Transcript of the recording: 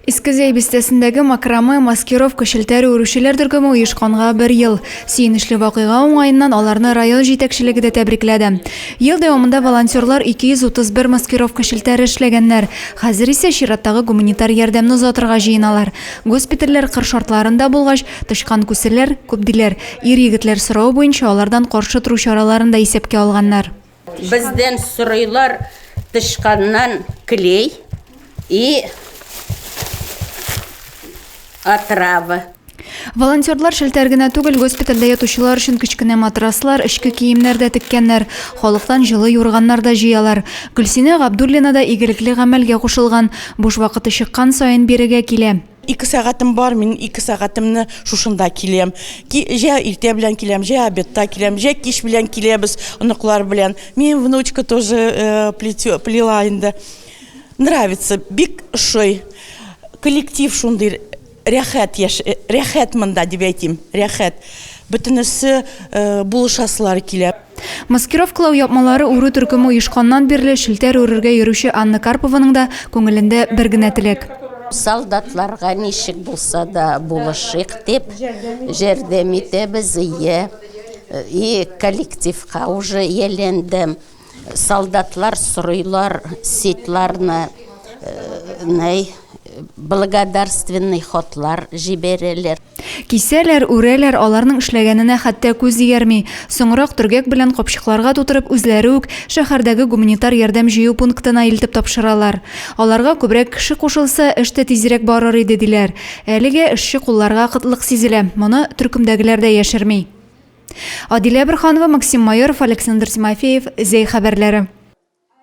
Иске Зәй бистәсендәге макраме, маскировка, челтәр үрүчеләр төркеме оешканга бер ел. Сөенечле вакыйга уңаеннан аларны район җитәкчелеге дә тәбрикләде. Ел дәвамында волонтерлар 231 маскировка челтәре эшләгәннәр. Хәзер исә чираттагы гуманитар ярдәмне озатырга җыеналар. Госпитальләр кыр шартларында булгач, тычкан күселәр, күп диләр. Ир-егетләр соравы буенча алардан каршы тору чараларын да исәпкә алганнар. Бездән сорыйлар тычканнан клей и отрава. Волонтерлар шелтәр генә түгел, госпитальдә ятучылар өчен кечкенә матраслар, эчке киемнәр дә теккәннәр, халыктан җылы юрганнар да җыялар. Гөлсинә Габдуллина да игелекле гамәлгә кушылган, буш вакыты чыккан саен бирегә килә. Ике сәгатем бар, мин ике сәгатемне шушында киләм. Ки, җә иртә белән киләм, җә обедта киләм, җә кич белән киләбез оныклар белән. Минем внучка тоже э, плетё, плела инде. Нравится, бик ошый. Коллектив шундый рәхәт яш, э, рәхәт монда дип әйтим, рәхәт. Бөтенесе э, булышасылары килә. Маскировкалау япмалары үрү төркеме оешканнан бирле челтәр үрергә йөрүче Анна Карпованың да күңелендә бер генә теләк. Солдатларга ничек булса да булышыйк дип, җәрдәм итәбез, йә. И коллективка уже ияләндем. Солдатлар сорыйлар ситларны, ней, благодарственный хатлар җибәрәләр. Кисәләр, үрәләр, аларның эшләгәненә хәтта күз дигәрми. Соңрак төргәк белән капчыкларга тутырып, үзләре үк шәһәрдәге гуманитар ярдәм җыю пунктына илтеп тапшыралар. Аларга күбрәк кеше кушылса, эш тә тизрәк барыр иде, диләр. Әлегә эшче кулларга кытлык сизелә, моны төркемдәгеләр дә яшерми. Адилә Борһанова, Максим Майоров, Александр Тимофеев, Зәй хәбәрләре.